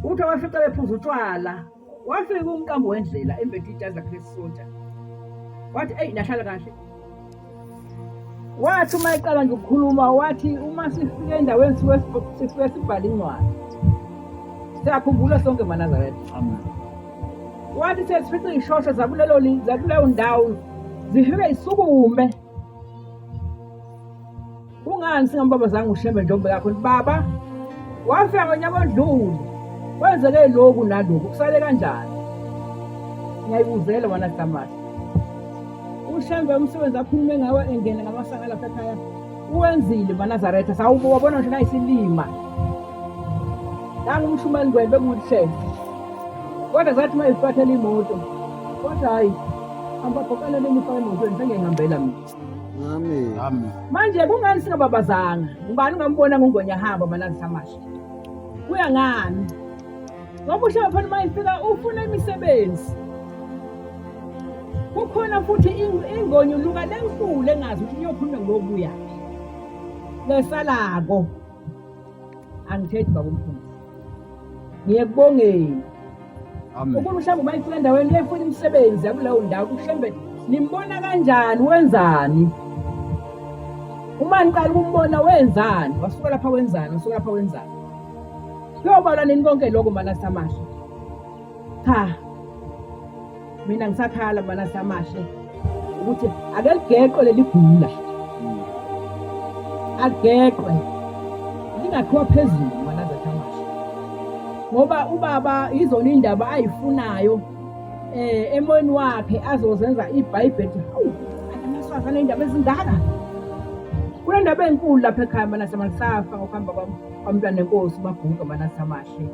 Uthe wafica bephuza utshwala wafika umqambo wendlela embethe ijazi lakhe lesisontsha wathi eyi nahlala kahle wathi uma eqala nje ukukhuluma wathi uma sifike endaweni sifike sibhale incwadi siyakhumbula sonke manazaretha wathi sesifica iy'shosho zakulelo zakuleyo ndawo zifike zisukume Kungani singambabazanga uShembe ntombi yakho baba? Wafika ngonyaka odlule. Kwenzeke lokhu nalokhu kusale kanjani? Ngiyayibuzela wena Damash. UShembe umsebenzi akhulume ngawo engene ngamasanga lapha ekhaya. Uwenzile maNazaretha sawubo wabona nje nayisilima. Nangu umshumani ngwele bekuhle. Kodwa zathi mayifathela imoto. Kodwa hayi ambabhokalele imifana emotweni sengiyihambela mina. Amen. Amen. Manje kungani singababazanga? Ngubani ungambona ngongonya hamba malazi samasha? Kuya ngani? Ngoba ushaya phana uma ifika ufuna imisebenzi. Kukhona futhi ingonyuluka lenkulu engazi ukuthi uyokhuluma ngobuya. Lesalako. angithethi baba umfundisi ngiyekubongeni Amen. Ukube mhlawumbe uma ifika endaweni lefuna imisebenzi yakuleyo ndawo kuhlembe nimbona kanjani wenzani? Uma niqala ukumbona wenzani? Wasuka lapha wenzani? Wasuka lapha wenzani? Kuyobalwa nini konke lokho mana samasha? Cha, mina ngisakhala mana samahle ukuthi ake ligeqwe leli gula ageqwe lingakhiwa phezulu mana zathamahle ngoba ubaba yizona indaba ayifunayo eh emoyeni wakhe azozenza ibhayibheli hawu anamasaza nendaba ezingaka kunendaba enkulu lapha ekhaya mana samasafa ngokuhamba kwami kwamntwana enkosi babhuka mana samahle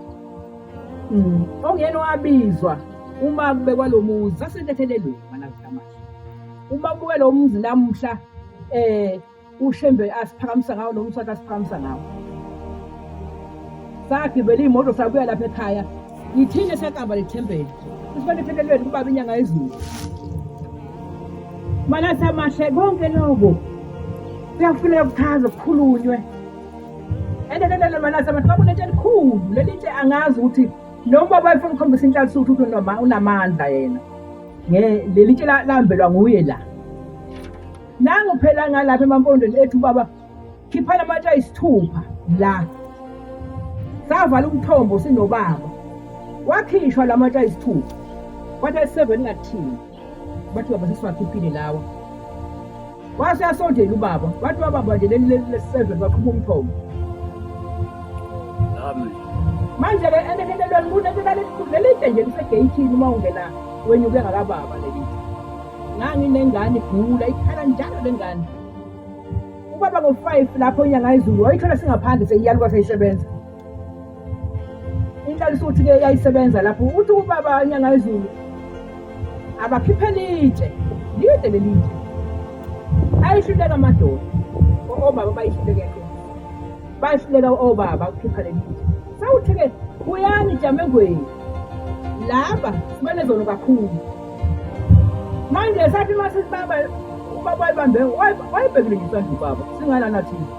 Mm. Ongena wabizwa uma kube kwalomuzi sasentethelelweni manazikamahle. Uma kubuke lo muzi namuhla eh ushembe asiphakamisa ngawo lo msaka asiphakamisa ngawo. Sagibela imoto sabuya lapha ekhaya. Yithina sakamba lethempeli. Usibane ethelelweni kubaba inyanga ezulu. Manasamahle konke lokho kuyafuneka kuchaze kukhulunywe endelelele malasa abantu bakunento elikhulu leli ntshe angazi ukuthi lo baba efuna ukukhombisa inhlal'suthu ukuthi noma unamandla yena leli ntshe lahambelwa nguye la nangu phela ngalapha emampondweni ethu baba khiphana amatshe ayisithupha la savala umthombo sinobaba wakhishwa la matshe ayisithupha kwathi ayiseveni ngathini bathi baba sesiwakhiphile lawa wase asondela ubaba wathi wababa nje leli leli lesiseve baqhuba umthombo manje ke enekelelweni kunekelalikhulu lelide nje lisegeyithini uma ungena wenye uke ngakababa lelide nganginengane igula ikhala njalo le ngane ubaba ngo-five lapho inyanga izulu wayithola singaphandle seyiyaluka seyisebenza inhlalisuthi ke yayisebenza lapho uthi ubaba anyanga izulu abakhiphele itshe lide leli itshe ayihluleka amadoda obaba bayihluleka bayihluleka obaba ukukhipha leli itshe sawuthi-ke buyani jamengweni laba simane zona kakhulu manje sathi uma sisibaba ubaba wayibambe wayibhekelekiswa nje ubaba singalana thina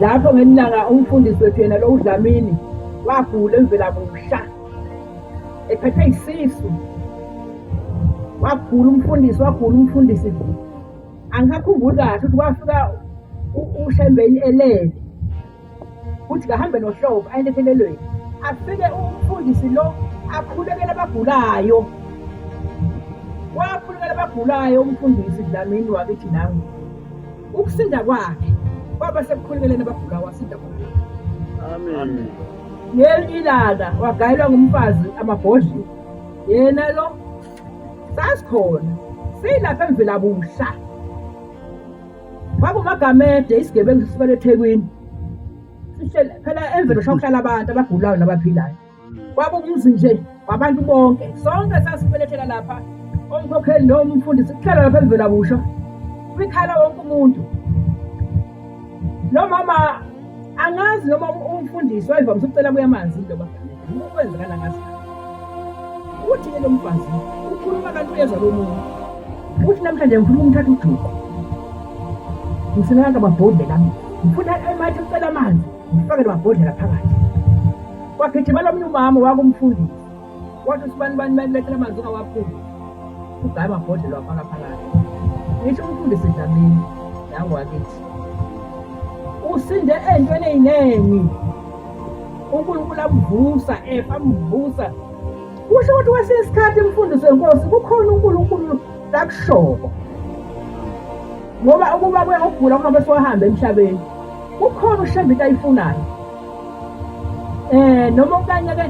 lapho ngelinye ilanga umfundisi wethu yena lo udlamini wagula emvelamusha ephethwe isisu wagula umfundisi wagula umfundisi angikakhumbuli kahle ukuthi wafika ushembeni elele kuthi kahambe nohlobo ayelethelelweni afike umfundisi lo akhulekele abagulayo wakhulekela abagulayo umfundisi dlamini wakithi nami Ukusinda kwakhe kwaba sekukhulukeleni abagulayo wasinda khona. Amen. Ngelinye ilanga wagayelwa ngumfazi amabhodlela. Yena lo sasikhona silapha emvela busha. Kwakumagamede isigebengu sisibele eThekwini. Sihlele phela emvelo shokuhlala abantu abagulayo nabaphilayo. Kwaba umuzi nje wabantu bonke. Sonke sasibelethela lapha. Umkhokheli noma umfundisi kuhlala lapha emvela kusho. Kwikhala wonke umuntu. Lo mama angazi noma umfundisi wayevamise ukucela kuya amanzi into bafanele. Ukwenzekana ngazi. Uthi ke lo mfazi ukhuluma kanti uyezwa lo muntu. Uthi namhlanje ngifuna umthatha ujuqu. Ngisenaka babhodle kami. Ngifuna emathi ucela amanzi. ngifake lwabhodlela phakathi kwagijimela omunye umama wakumfundisi wathi usibani bani balilethela amanzi ungawaphumi ugaye amabhodlela wafaka phakathi ngisho umfundisi dlamini yangiwakithi usinde entweni eyiningi unkulunkulu amvusa efa amvusa kusho ukuthi kwesinye isikhathi imfundiso yenkosi kukhona unkulunkulu lakushoko ngoba ukuba kuyokugula kungabe siwahambe emhlabeni Kukhona ushembe into ayifunayo. Eh noma okanye ke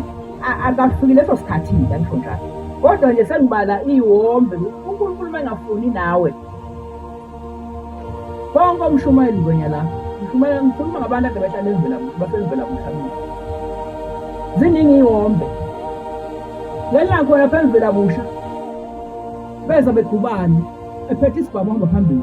akafikile leso sikhathi mina ngifunda. Kodwa nje sengibala iwombe uNkulunkulu mangafuni nawe. Bonke umshumayeli ngwenya la. Umshumayeli ngikhuluma ngabantu ade bahlale ezivela basezivela mhlawumbe. Ziningi iwombe. Lena khona phezulu abusha. Beza begubani ephethe isibhamu ngaphambili.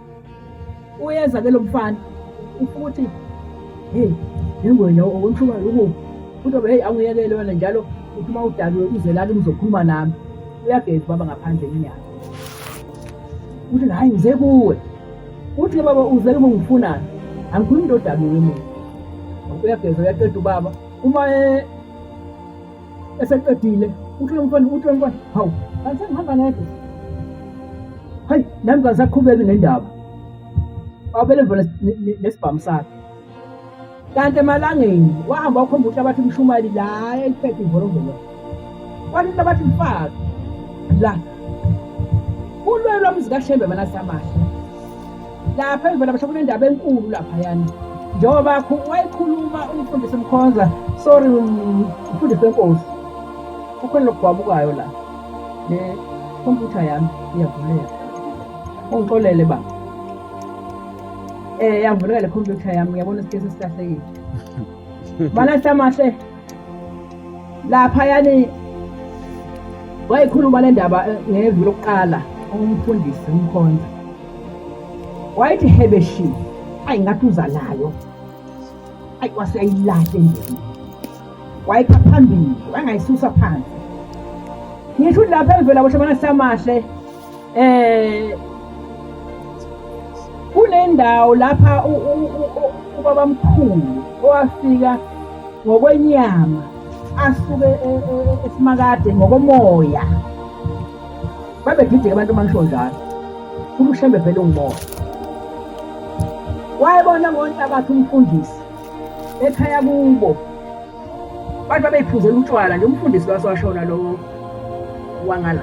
uyeza ke lo mfana ufuka ukuthi hey nengwenya okumshuba lokhu futhi obe hey angiyekele wena njalo uthi uma udakiwe uze lana uzokhuluma nami uyageza baba ngaphandle inyanga uthi hayi ngize kuwe uthi ke baba uze kuba ngifunani angikhulumi into odakiwe mina uyageza uyaqeda ubaba uma eseqedile uthula umfana uthula umfana hawu kanti ngihamba ngedwa hayi nami ngisaqhubeki nendaba abele mvele nesibhamu sakhe kanti emalangeni wahamba wakhomba ukuthi abathi umshumali la eliphethe imvolomvolo kwathi into abathi mfaki la ulwelo lwamuzikashembe manasamahle lapha emvela basho kunendaba enkulu laphayana njengoba wayikhuluma umfundisi mkhonza sorry umfundisi wenkosi kukhona lokugwabukayo la le khompyutha yami iyavuleka ungixolele baba um yavuleka le khompyutha yami uyabona isikesi esikahlekile balahle amahle lapha yani wayikhuluma le ndaba eh, ngeviki lokuqala umfundisi umkhonza wayithi hebeshi ayi ngathi uza nayo ayi waseyilahle nje wayikha phambili wangayisusa phansi ngisho lapha evela bohle bana samahle eh kunendawo lapha ubabamkhulu owafika ngokwenyama asuke e, e, e, esimakade ngokomoya babegideke abantu mangisho njalo umshembe vele ungumoya wayebona ngonhlabathi umfundisi ekhaya kubo Abantu babeyiphuzela utshwala nje umfundisi lwasewashona lowo wangala.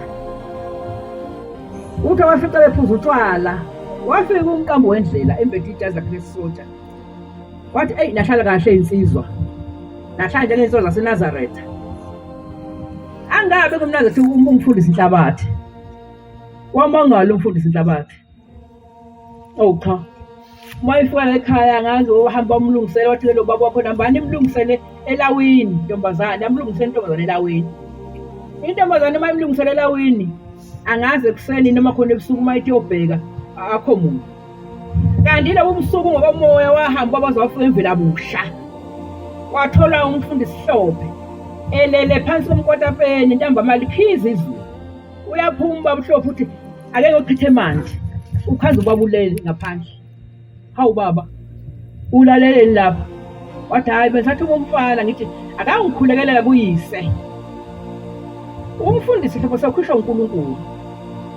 Uthe wafica bephuza utshwala wafika umqambo wendlela embethe ijazi lakhe lesisoja. Wathi eyi nahlala kahle insizwa. Nahlala njengensizwa zaseNazaretha. Angabe kumnandi ukuthi umfundisi inhlabathi. Wamangala umfundisi inhlabathi. Oh cha. Uma ifika ekhaya ngazi uhamba umlungisele wathi lo baba wakho nambani imlungisele elawini ntombazane amlungisele intombazane elawini. Intombazane uma imlungisele elawini angazi ekuseni noma khona ebusuku uma ithi yobheka akho muntu. Kanti lobu busuku ngokomoya wahamba bazofika imvela busha. Wathola umfundisi Hlophe elele phansi komkotapeni ntambama likhiza izulu. uyaphuma ubaba uhlophe uthi akeke uchithe manzi ukhaza ubaba ulele ngaphandle hawu baba ulaleleni lapha wathi hhayi bengisathi umfana ngithi akangikhulekelela kuyise umfundisi hlobo sakhishwa unkulunkulu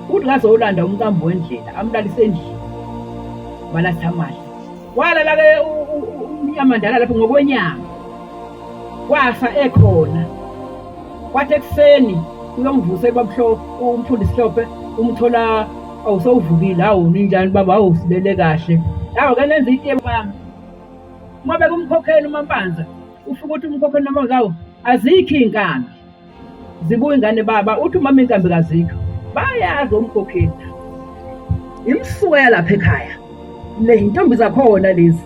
uthi ngaze olanda umqambo wendlela amlalise endlini balathamali walala-ke umnyamandala lapho ngokwenyanga wafa ekhona kwathi ekuseni uyongivusa ebabuhlo umfundisi hlophe umthola awusowuvukile hawu ninjani baba hawu sibele kahle hawu ke nenza ite bami uma bekumkhokhela umampanza ufike ukuthi umkhokhela umampanza hawu azikho iy'nkambi zibuya ingane baba uthi umama iy'nkambi kazikho bayazi omkhokheli imsuka yalapha ekhaya le yintombi zakhona lezi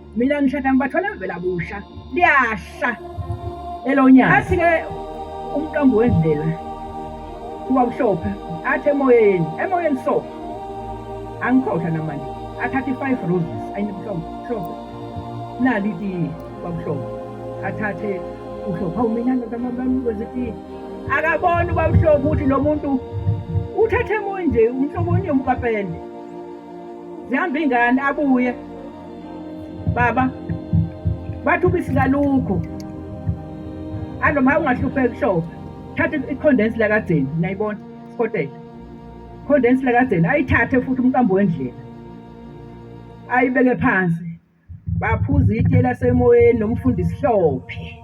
mina ngishada ngibathwala vela busha liyahla elonyaka athi-ke umqambo wendlela kuba kuhlophe athi emoyeni emoyeni so angikhohlwa namanje athatha i-five roses ayinimhlophe nali itiye kwabuhlophe athathe uhlophe awu mina ndodamakwenza itiye akaboni ubabuhlophe ukuthi lo muntu uthathe emonje umhlobonye umkapende zihamba ingane abuye baba bathi ubisi kalukho alo ma ungahlupheki show thatha i-condense lakadzeni nayibona sikotela condense lakadzeni ayithathe futhi umqambo wendlela ayibeke phansi baphuza itiye lasemoyeni nomfundisi hlophe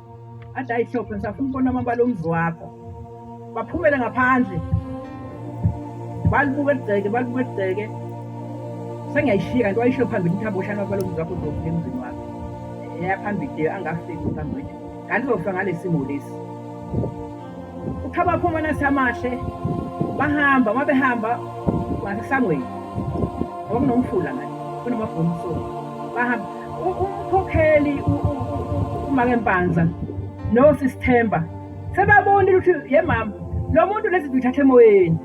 athi ayihlophe ngisafuna ukubona amabala omzi wakho baphumele ngaphandle balibuka eligceke balibuka eligceke sengiyayishiya kanti wayishiyo phambili ukuthi aboshane amabala omzi wakho uzofika emzini wakho eyaphambili angafiki phambili kanti uzofika ngalesi simo lesi Ukhaba phuma nasamahle bahamba uma behamba ngasesangweni ngoba kunomfula ngani kunamabhomu so bahamba umkhokheli umake mpanza nosisithemba sebabonile ukuthi ye mama lo muntu lezi zithathe emoyeni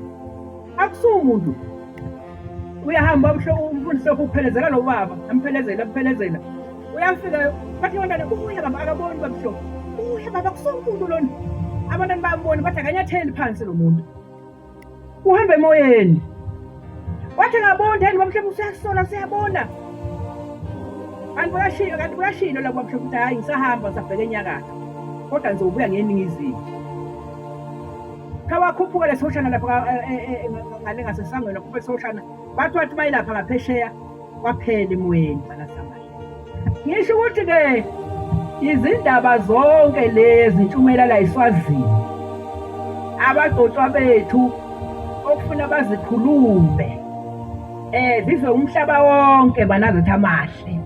akusumuntu uyahamba umfundisi lokhu ukuphelezela lo baba amphelezela amphelezela uyafika bathi abantwana kubuya baba akaboni babisho kubuya baba kusomuntu lona abantwana bayamboni bathi akanyatheli phansi lo muntu uhamba emoyeni wathi akaboni yini babisho usuyasola siyabona kanti kuyashilo kanti kuyashilo la babisho ukuthi hhayi ngisahamba ngisabheke enyakatho kodwa ngizobuya ngeningizimu Khawakhuphuke lesoshana lapha e, e, e, ngale ngasesangweni wakhuphe lesoshana bathi wathi bayilapha ngaphesheya kwaphela emoyeni balasamali ngisho ukuthi-ke izindaba zonke lezi ntshumayela la iswazini abagcotshwa bethu okufuna bazikhulume eh zizwe umhlaba wonke banazithi amahle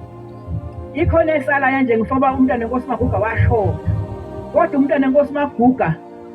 ikhona esalayo nje ngifoba umntana enkosi maguga washona kodwa umntana enkosi maguga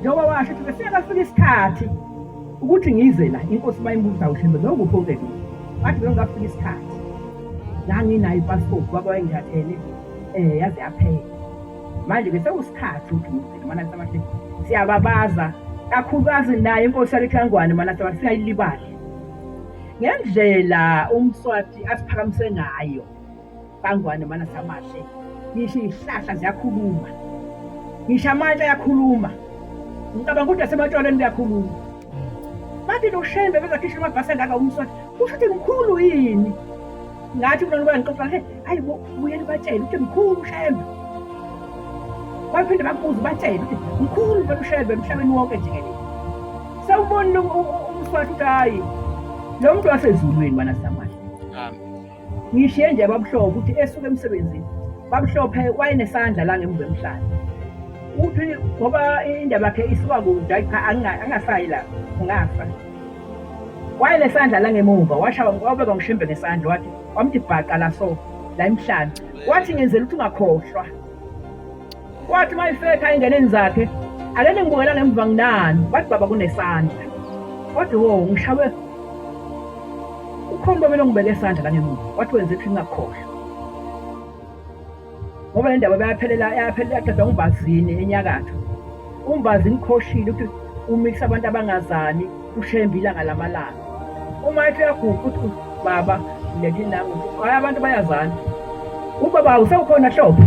Njengoba washo ukuthi besiya bafika isikhathi ukuthi ngize la inkosi mayimbuza ushembe noma kuphi okubekile bathi bengafika isikhathi la nginayo ipassport baba wayengithathele um yaze yaphela manje ke sekusikhathi ukuthi ngizile mana sabathi siyababaza kakhulukazi naye inkosi yalekhangwane mana sabathi singayilibali ngendlela umswati asiphakamise ngayo Sangwane mana samahle. Ngisho izihlahla ziyakhuluma. Ngisho amatshe ayakhuluma. Ngicabanga ukuthi nasematshwaleni kuyakhuluma. Bathi noshembe bezakhishwa amabhasi angaka umswati. Kusho ukuthi mkhulu yini? Ngathi kulona kuba ngixoxa he, hayi bo buyeni batshele ukuthi mkhulu ushembe. Baphinde bakubuze batshele ukuthi mkhulu vele ushembe emhlabeni wonke jikelele. Sawubona umswati ukuthi hayi lo muntu wasezulwini mana samahle. Amen. Ngishiye nje babuhlobo ukuthi esuke emsebenzini. Babuhlophe wayenesandla la ngemuva emhlanje. Uthi ngoba indaba yakhe isuka kude ayi cha anga- angasayi la ngafa. Wayenesandla la ngemuva washawa wabeka ngishimbe ngesandla wathi wamthi bhaqa la so la emhlanje. Wathi ngenzela ukuthi ungakhohlwa. Kwathi mayifetha engeneni zakhe ake ningibukela ngemva nginani wathi baba kunesandla kodwa wo ngishawe ukhomba mina ngibeke isandla la ngemuva wathi wenze ukuthi ngingakhohlwa ngoba le ndaba bayaphelela yaphelela yaqedwa ngubazini enyakatho Umbazi ngikhoshile ukuthi umikisa abantu abangazani ushembe ilanga lamalanga uma ethi uyaguqa uthi baba leli lami hayi abantu bayazana ubaba usewukhona hlobo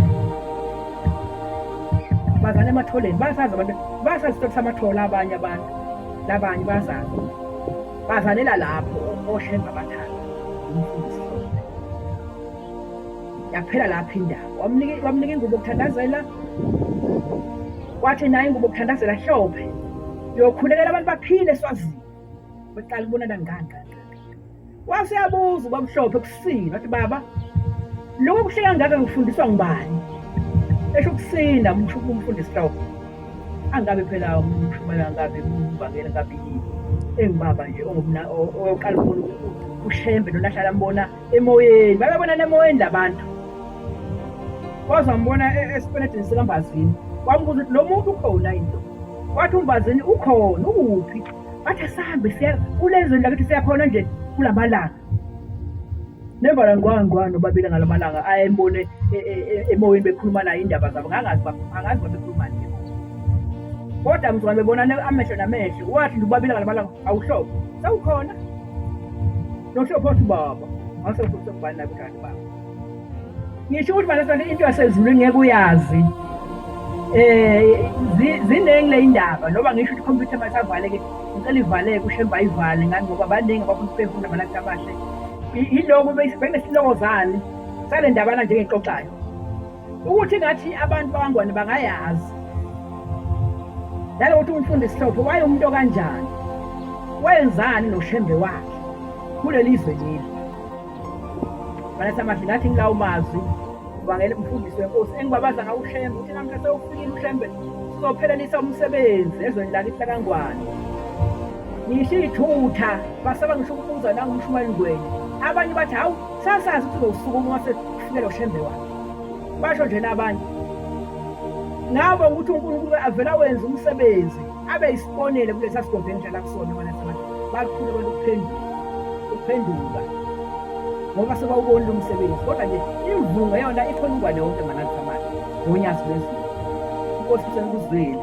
bazana ematholeni basazi abantu basazi isikhathi samathola abanye abantu labanye bazazi bazanela lapho oshemba abathathu umfundisi yaphela lapha indawo wamnika wamnika ingubo kuthandazela wathi naye ingubo kuthandazela hlophe yokhulekela abantu baphile swazini beqala ubonana nganga waseyabuza ubamhlophe kusini wathi baba lokho kuhle kangaka ngifundiswa ngubani esho ukusina umshuku umfundisi hloko angabe phela umshumayela ngabe umbangela ngabe yini engibaba nje ongumna oqala unkulunkulu ushembe lona ahlala mbona Emoyeni, babebonana emoyeni labantu. Waze wambona e- esipenedini sikaMbazini. Wambuza ukuthi lo muntu ukhona yini? Wathi uMbazini ukhona, ukuphi? Wathi asambe siya kulezweni lakithi siyakhona nje kulamalanga. Nembala ngwa ngwa nobabili ngalamalanga ayembone e- e- e- emoyeni bekhuluma naye indaba zabo ngangazi bab- angazi babekhuluma nje. Kodwa mzwana bebonana amehlo namehlo. Wathi ubabili ngalamalanga awuhlobo. Sawukhona? Nohlo phothi baba. Ngase futhi kubani lapha kanti baba. Ngisho ukuthi manje sonke into yasezulu ngeke uyazi. Eh ziningi le indaba noma ngisho ukuthi computer masavaleke ngicela ivaleke ushemba ivale ngani ngoba baningi abafuna ukufunda abalakhe abahle. Yiloko bese bengesilokozani sale ndabana njengexoxayo. ukuthi ngathi abantu bakangwane bangayazi nalokuthi umfundi sihlophe waye umuntu okanjani wenzani noshembe wakhe kuleli zwe leli banathamahle ngathi ngilawo mazwi ubangele umfundisi wenkosi engibabaza ngawo ushembe uthi namhla sewufikile ushembe sizophelelisa umsebenzi ezweni lakithi lakangwane ngisho iy'thutha basaba ngisho ukubuza nangumshumayeli ngweni abanye bathi hawu sasazi ukuthi uzowusukuma wase kufikela ushembe wakhe basho nje nabanye ngabo ukuthi uNkulunkulu avela wenza umsebenzi abe isibonele kulesa sigodlo enjala kusona bona abantu bakhulu abantu kuphenduka kuphenduka ngoba sebawubonile umsebenzi kodwa nje imvunga yona ikhona ungwane wonke mangathi amanje ngonyazi lwezulu inkosi isenkuzwile